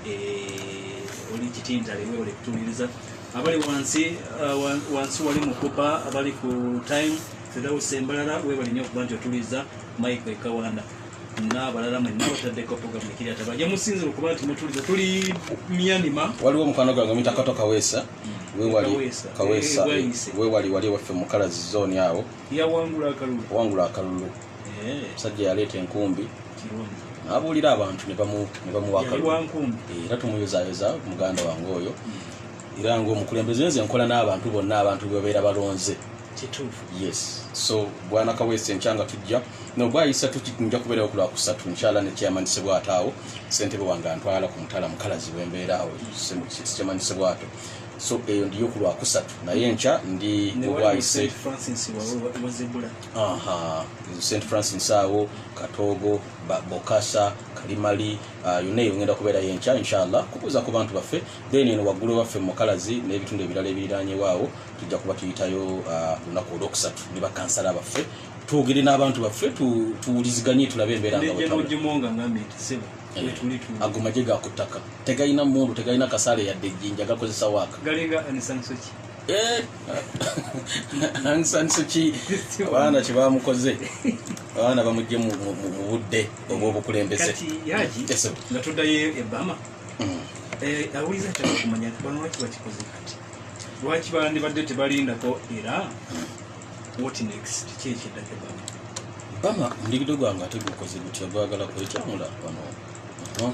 eh, oli kitintale webale kutuuliriza abali wansi uh, wansi wali mukupa abali ku time fedausi embalala webali nyo okuba nti otuliza mike ekawanda nabalala mwenna bataddeko programu ekiriata bajja musinzira okuba nti mutuliza tuli myanima waliwo omukwano gwange omitakato kaweesa mm. wewali wali waffe mukalazi zoni awo wangula akalulu omusajja yaleeta enkumbi nabuulira abantu nebamuwaka era tumuyozayoza muganda wange oyo hmm. era ngaomukulembeze nze nkola n'abantu bonna abantu bebabeera balonze yes so bwana kaweesa enkya nga tujja nobwayisa tukinja kubeerawo ku lwakusatu nkyala nekyeyamanyisebwataawo sentebe wange antwala ku mutala mukalazi wembeeraawo sikyamanyisebwato so eyo ndiyo ku lwakusatu naye enkya ndi mubwayise Aha, St Francis awo Katogo, Bokasa, Kalimali uh, yonna eyo ngenda kubeerayo enkya inshallah kubuuza ku bantu baffe then eno waggulu ewaffe mukalazi n'ebitundu ebirala ebiriraanyewo awo tujja kuba tuyitayo uh, lunaku uh, olwokusatu ne bakansala baffe twogere n'abantu baffe tuwuliziganye tulabe embeera ago maje ga ku ttaka tegalina mundu tegalina kasaale yadde ejjinja gakozesa waaka Eh, Aung San Suu Kyi abaana kye bamukoze abaana bamugye mu mu- mu- mu budde obw'obukulembeze kati yaji Yes, sir. nga tuddayo e bama Mm. Eh, awuliza ataka okumanya nti bano lwaki bakikoze kati lwaki bandibadde tebalindako era what next ki ekiddako ebama bama omudigido gwange ate gukoze gutya gwagala kwekyamula wano Aha.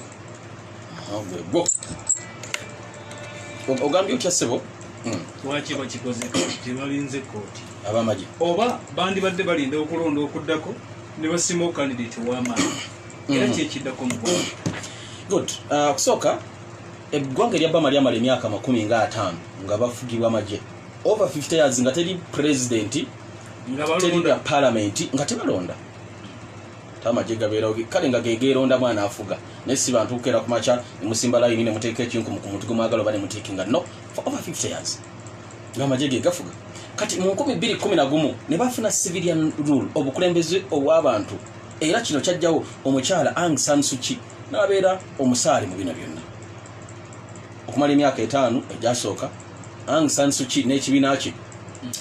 ogambye otya sebo hmm. lwaki bakikoze tebalinze kooti abamagye oba bandibadde balinda okulonda okuddako ne basima okandidate owamaani hmm. era kyekiddako mu good uh, okusooka eggwanga erya bama lyamala emyaka makumi nga ataano nga bafugibwa amagye over 50 years nga teri presidenti teri palamenti nga tebalonda amagye gabeerawo kale nga gegeerondamu anaafuga naye si bantu kukeera ku makya nemusimba layini ne muteeka ekinkumu ku muntu gwe mwagala oba ne mutiikinga no for over 50 years ng'amagye ge gafuga kati mu 211 ne bafuna civilian rule obukulembeze obw'abantu era kino kyajjawo omukyala ang sansuki n'abeera omusaale mu bino byonna okumala emyaka etaano egyasooka ang sansuki n'ekibiina kye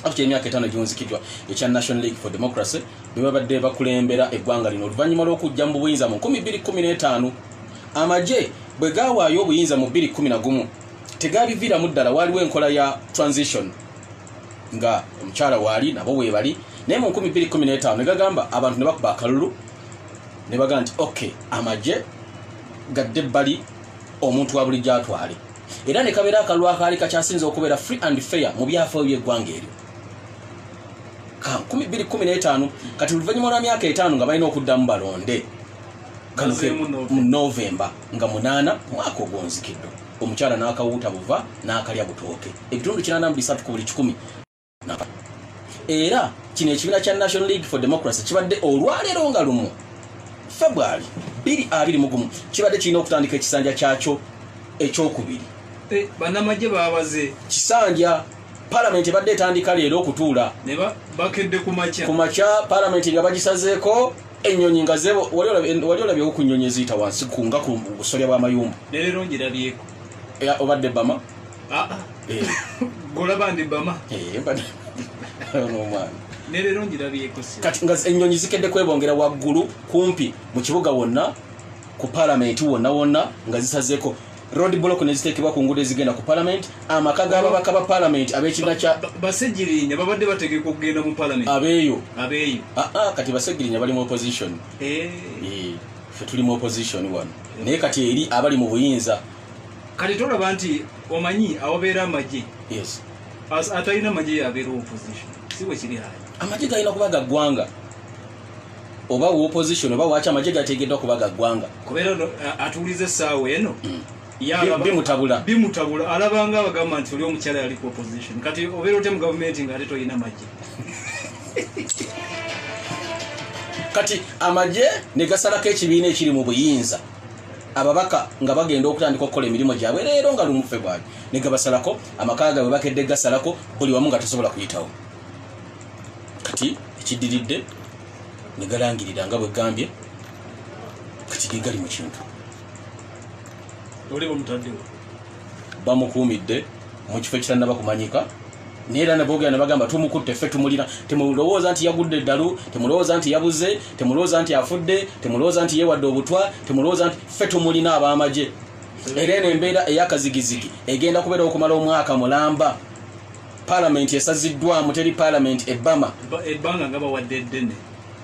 akutya emyaka etaano gyonzikiddwa ekya national league for democracy bebabadde bakulembera eggwanga lino oluvannyuma lw'okujja mu buyinza mu 215 amagye bwe gaawaayo obuyinza mu 211 tegaabiviiramu ddala waaliwo enkola ya transition nga omukyala waali nabo weebali naye mu 215 ne gagamba abantu ne bakuba akalulu ne baga nti ok amagye gadde ebbali omuntu wa bulijjo atwale era ne kabeera akalulu akaali kakyasinza okubeera free and fair mu byafaayo by'eggwanga eryo kumi bbiri kumi n'etaano kati oluvannyuma lwa myaka etaano nga balina okuddamu balonde kano ke mu novemba nga munaana mwaka ogwonzikiddo omukyala n'akawuuta buva n'akalya butooke ebitundu kinaana mu bisatu ku buli kikumi era kino ekibiina kya national league for democracy kibadde olwaleero nga lumu february biri abiri mugumu kibadde kirina okutandika ekisanja kyakyo ekyokubiri eh, banamagye babaze kisanja palamenti ebadde etandika leero okutuula bakedde kumakya palamenti nga bagisazeeko enyonyi nga wali olabyewo ku nyonyi eziyita wansi kunga ku busolya bw'amayumba obadde bama ah, ah. Eh. Eh, kati nga enyonyi zikedde kwebongera waggulu kumpi mu kibuga wonna ku palamenti wonna wonna nga zisazeeko road block neziteekebwa ku nguudo ezigenda ku palamenti amaka g'ababaka ba palamenti ab'ekibiina kya basegirinya babadde bategeka okugenda mu palamenti abeeyo abeeyo aa ah, ah, kati basegirinya bali mu opposition eh. Eh, fe tuli mu opposition wano naye kati eri abali mu buyinza kati tolaba nti omanyi awabeera amagye yes atalina amagye yabeera opposition si bwe kiri haya amagye galina kuba ga ggwanga oba wa opposition oba waki amagye gateegeddwa kuba ga ggwanga kubeera no atuwuliza essaawa eno mm. bimutabula bimutabula alabanga abagamba nti oli omukyala yali ku opposition kati obeera otya mu gavumenti nga ate tolina magye kati amagye ne gasalako ekibiina ekiri mu buyinza ababaka nga bagenda okutandika okukola emirimu gyabwe leero nga lumu febwali ne gabasalako amaka gaabwe bakedde gasalako buli wamu nga tosobola kuyitawo kati ekidiridde negalangirira nga bwegambye kati gegali mu kintu bamukuumidde mu kifo ekitanaba kumanyika neera nabogera nebagamba tumukutte ffe tumulina temulowooza nti yagudde eddalu temulowooza nti yabuze temulowooza nti afudde temulowooza nti yewadde obutwa temulowooza nti ffe tumulina ab'amagye era eno embeera eyakazigizigi egenda kubeerawo okumala omwaka mulamba palamenti esaziddwamu teri palamenti ebama ebbanga nga bawadde eddene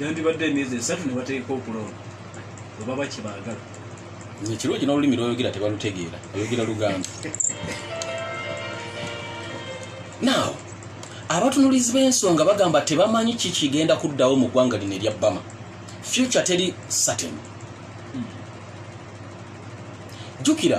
yandibadde emyezi esatu ne bateeka okulonda webaba kyebaagala ekirungi n'olulimi lwoyogera tebalutegeera oyogera luganda naaw abatunulizi b'ensonga bagamba tebamanyi ki kigenda kuddawo mu ggwanga lino erya bama future teri saten hmm. jjukira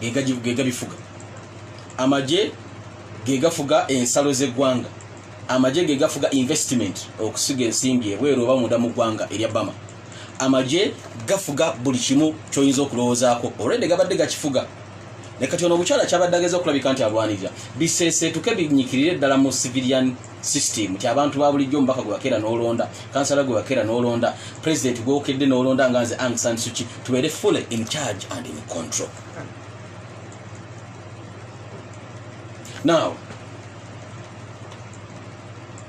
gegabifuga amagye gegafuga ensalo zegwanga amagye gegafuga investment okusiga ensimbi ebweru oba munda mugwanga erya bama amagye gafuga buli kimu kyoyinza okulowoozaako olwedde gabadde gakifuga nekati ono omukyala kyabadde ageza okulabika nti alwanirira bisesetuke binyikirire ddala mu civilian system ti abantu babulijjo omubaka gwe wakeera n'olonda kansala gwe wakeera n'olonda president gwokedde n'olonda nga nze ang san suki tubeere full in charge and in control now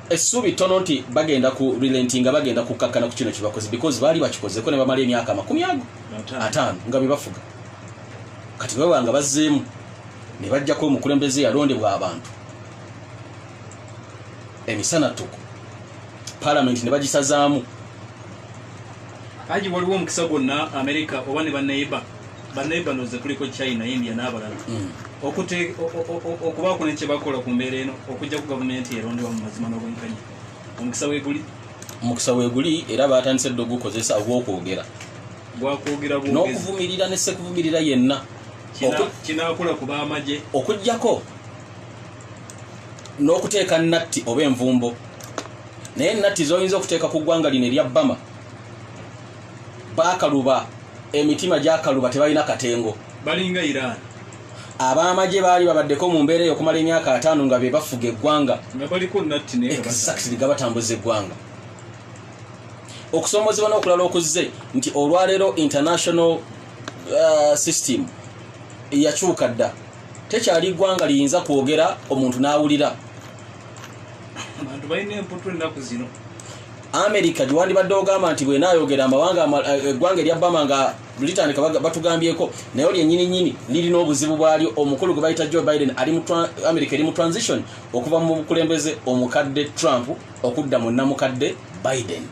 essuubi ttono nti bagenda ku relenti nga bagenda kukkakkana ku kino kyebakoze because baali bakikozeko ne bamala emyaka amakumi ago ataano nga bebafuga kati baba nga bazzeemu ne bajjako omukulembeze yalondebwa abantu emisana tuku palamenti ne bagisazaamu aji waliwo omukisa gwonna amerika oba ne baneiba baneiba noze kuliko china india n'abalala mm. okubaako ne kyebakola ku mbeera eno okujja ku gavumenti erondewa mu mazima n'obwenkanya omukisa weguli omukisa weguli era batandise dde ogukozesa ogwokwogera n'okuvumirira ne sekuvumirira yenna kinakula ku b'amagye okugyako n'okuteeka natti oba envumbo naye natti zoyinza okuteeka ku ggwanga lino erya bama bakaluba emitima gyakaluba tebalina katengo balinga iran abamagye baali babaddeko mu mbeera eyo okumala emyaka ataano nga be bafuga eggwanga exactly gabatambuza eggwanga okusoomozebwa n'okulala okuzze nti olwaleero international uh, system yakyuka dda tekyali ggwanga liyinza kwogera omuntu n'awulira amerika gyewandibadde ogamba nti bwenayogera amawanga eh, eggwanga erya bama nga litandika batugambyeko naye olyo enyini nyini lirina obuzibu bwalyo omukulu gwe bayita joe biden ali amerika eri mu transition okuva mu bukulembeze omukadde trump okudda mu namukadde biden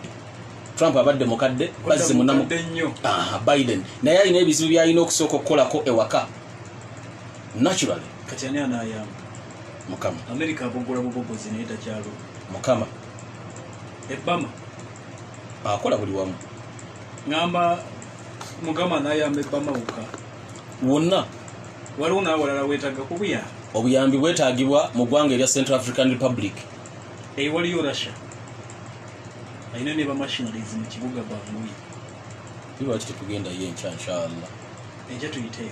trump abadde mukadde bazzi munamubiden naye alina ebizibu byalina okusooka okukolako ewaka naturally kati ani anayamba mukama amerika abogola bubogozi naye takyalo mukama ebama akola buli wamu ngamba mukama anayamba ebama wokka wonna waliwo nawalala wetaga kubuya obuyambi bwetagibwa mu ggwanga erya central african republic eyi waliyo russia alina ne bamashinaries mu kibuga bangui iwaki tetugendayo enkya nshallah eje tuyiteyo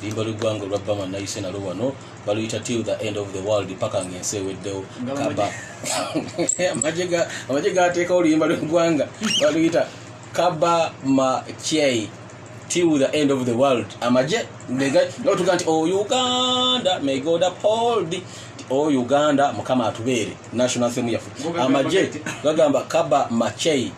limba lw'eggwanga olwa bama nayise nalo wano baluyita till the end of the world paka nga ensi eweddewo kaba amagye gateekawo oluyimba lw'eggwanga baluyita kaba makyei till the end of the world amaje notuga nti o oh, uganda may god uphold o oh, uganda mukama atubeere national theme yaffe amaje gagamba kaba machei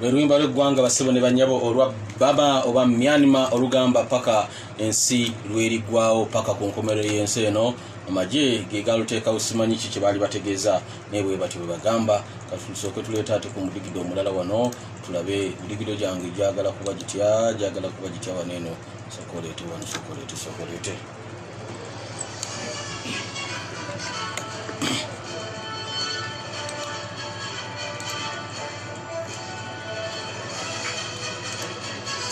lweluyimba lweggwanga basebo ne banyabo olwa baba oba myanima olugamba paka ensi lwerigwawo paka ku nkomerero yensi eno amagye gegaluteekawo simanyi ki kyebaali bategeeza naye bwebatyo bwebagamba kati tusooke tuleeta ate ku mudigido omulala wano tulabe midigido gyange gyagala kuba gitya gyagala kuba gitya wano eno sokoleete wano sokoleete sokoleete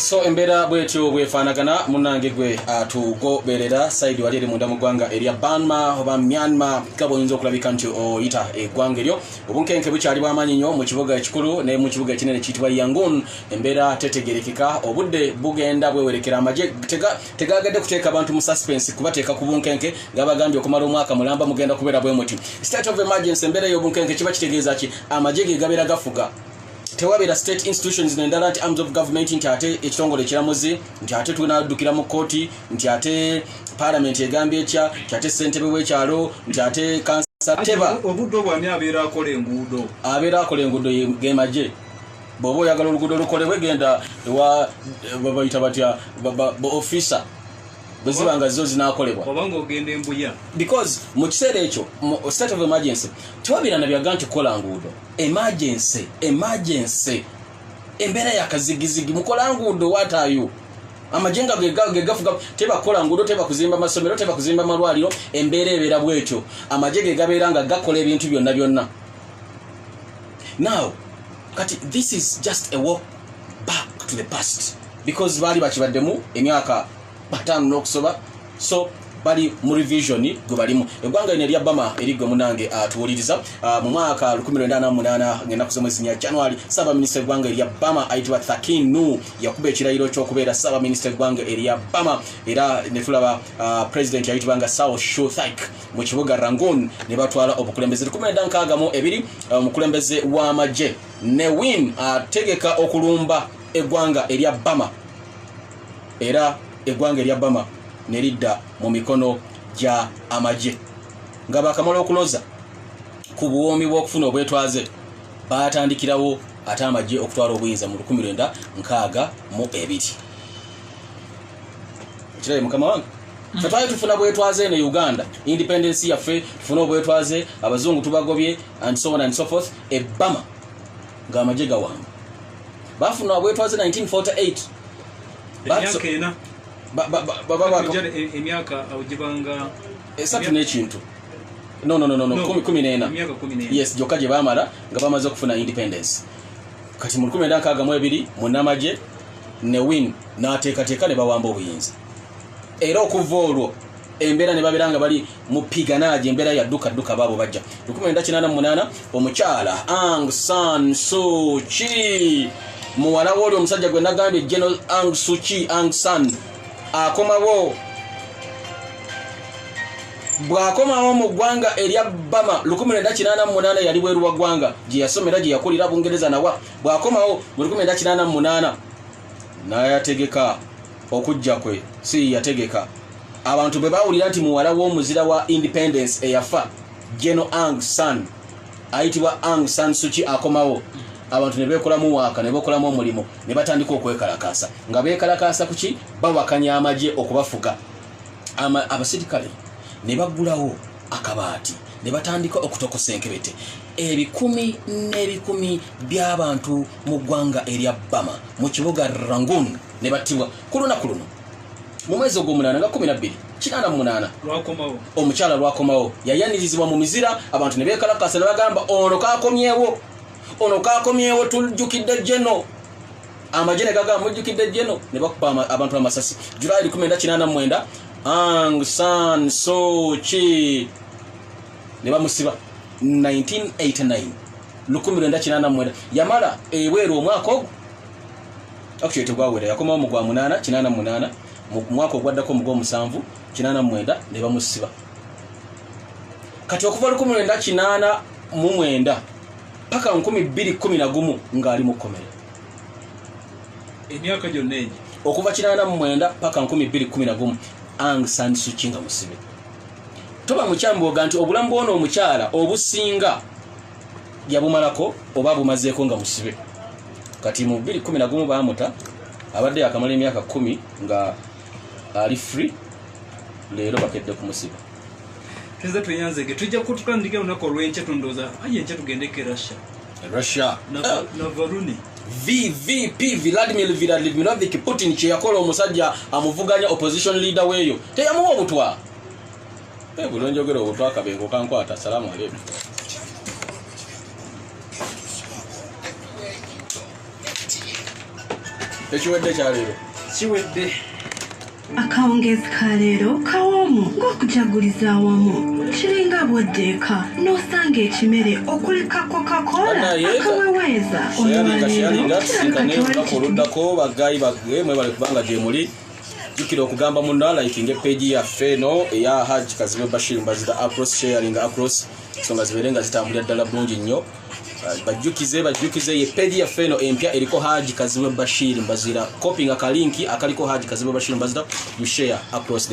so embeera bwetyo bwefaanagana munange gwe atugoberera ah, saidi wali eri munda mu ggwanga erya banma oba myanma gaba oyinza okulabika nti oyita eggwanga eryo obunkenke bukyali bwamaanyi nnyo mu kibuga ekikulu naye mu kibuga ekinene kiyitibwa yangun embeera tetegerekeka obudde bugenda bwewerekera amagye tegaagadde kuteeka abantu mu suspense kubateeka ku bunkenke gabagambye okumala omwaka mulamba mugenda kubeera bwe muti state of emergency embeera ey'obunkenke kiba kitegeeza ki amagye ge gabeera gafuga tewabeera state institutions nendala nti arms of government nti ate ekitongole ekiramuzi nti ate tunaddukira mu kooti nti ate palamenti egambye ekya nti ate ssentebe w'ekyalo nti ate kansateba obudde obwani abeera akola enguudo abeera akola enguudo ge magye bwoba oyagala oluguudo lukolebwe genda ewa babayita batya ba officer bwe ziba nga zo zinakolebwa because mu kiseera ekyo state of emergency tewabirana byaga nti kukola nguudo emergency emergency embeera yakazigizigi mukola nguudo watayo amajenga gegafuga tebakola nguudo tebakuzimba masomero tebakuzimba malwaliro embeera ebeera bwetyo amaje gegabeera nga gakola ebintu byonna byonna now kati this is just a walk back to the past because baali bakibaddemu emyaka bataano n'okusoba so bali mu revision gwe balimu eggwanga lino erya bama erigwe munange atuwuliriza ah, ah, mu mwaka 1988 ngenda kusoma esinya ya january ssaabaminisita eggwanga erya bama ayitibwa thakinu yakuba ekirayiro ky'okubeera ssaabaminisita eggwanga erya bama era ne tulaba ah, president yayitibwa nga sao shuthik mu kibuga rangoon ne batwala obukulembeze 1962 omukulembeze w'amagye ne win ategeka okulumba eggwanga erya bama era eggwanga erya bama ne lidda mu mikono gya amagye nga bakamala okuloza ku buwoomi bw'okufuna obwetwaze baatandikirawo ate amagye okutwala obuyinza mu 1962 mu ebiri ekirabe mukama wange fetwali tufuna bwetwaze eno uganda independence yaffe tufune obwetwaze abazungu tubagobye and so on and so forth ebbama ng'amagye gawamba bafuna obwetwaze 1948 emyaka awo gibanga esatu n'ekintu kumi n'ena yes gyokka gye baamala nga bamaze okufuna independence kati mu lukumi enda nkaaga mu ebiri munamagye ne win n'ateekateeka ne bawamba obuyinza era okuva olwo embeera ne babeera nga bali mu piganaaji embeera yadduka dduka baabo bajja 1988 omukyala ang san suki muwala wooli omusajja gwe nagambye geno ang suki ang san akomawo bw'akomawo mu ggwanga erya bama 1988 yali bweru wa ggwanga gye yasomera gye yakulira bungereza nawa bw'akomawo mu 1988 n'ayategeka okujja kwe si yategeka abantu bwe bawulira nti muwala w'omuzira wa independence eyafa geno ang san ayitibwa ang san suki akomawo abantu ne beekolamu waaka ne beekolamu omulimu ne batandika okwekalakaasa nga beekalakaasa ku ki bawakanya amagye okubafuga abasirikale ne baggulawo akabaati ne batandika okutokosa enkebete ebikumi n'ebikumi by'abantu mu ggwanga erya bama mu kibuga rangun ne battibwa ku lunaku luno mu mwezi ogw'omunaana nga kumi nabbiri kinaana mu munaana omukyala lwakomawo yayanirizibwa mu mizira abantu ne beekalakasa ne bagamba ono kakomyewo ono kakomyewo tujjukidde jeno amagye ne gagamba mujjukidde jeno ne bakuba abantu amasasi julayi likumi enda kinaana mu mwenda ang san soki ne bamusiba 1989 lukumi lwenda kinaana mu mwenda yamala ebweru omwaka ogwo actually tegwawera yakomawo mu gwa munaana kinaana mu munaana mu mwaka ogwaddako mu gwomusanvu kinaana mu mwenda ne bamusiba kati okuva lukumi lwenda kinaana mu mwenda paka nkumi bbiri kumi na gumu ng'ali mu kkomera emyaka gyonna egyo okuva kinaana mu mwenda paka nkumi bbiri kumi na gumu ang sansuki nga musibe toba mukyamboga nti obulamu bwona omukyala obusinga yabumalako oba abumazeeko nga musibe kati mu 211 baamuta abadde yakamala emyaka kumi nga ali free leero bakedde kumusiba tuze tweyanzege tujja kututandika olunaku olwenkya tundoza aye enkya tugendeko erussia russia navaruni na vvp vladimir vladimirovic putin kyeyakola omusajja amuvuganya opposition leader weeyo teyamuwa obutwa Eh, buno njogera obutwakabengo kankwata salamu aleikum ekiwedde kyaleero kiwedde akawungeezi ka leero kawoomu ng'okujaguliza awamu kiringa bwoddeeka n'osanga ekimere okuli kako kakoola akaweweeza olwaleero kirabika tewali kituufu baggayi bagge mwebale kubanga gyemuli jukira okugamba munna likinga epeegi yaffe eno eya haj kazibe bashir mbazira across sharing across ensonga zibeere nga zitambulira ddala bulungi nnyo uh, bajjukize bajjukize ye peegi yaffe eno empya eriko haji kazibe bashir mbazira kopinga kalinki akaliko haji kazibe bashir mbazira you share across the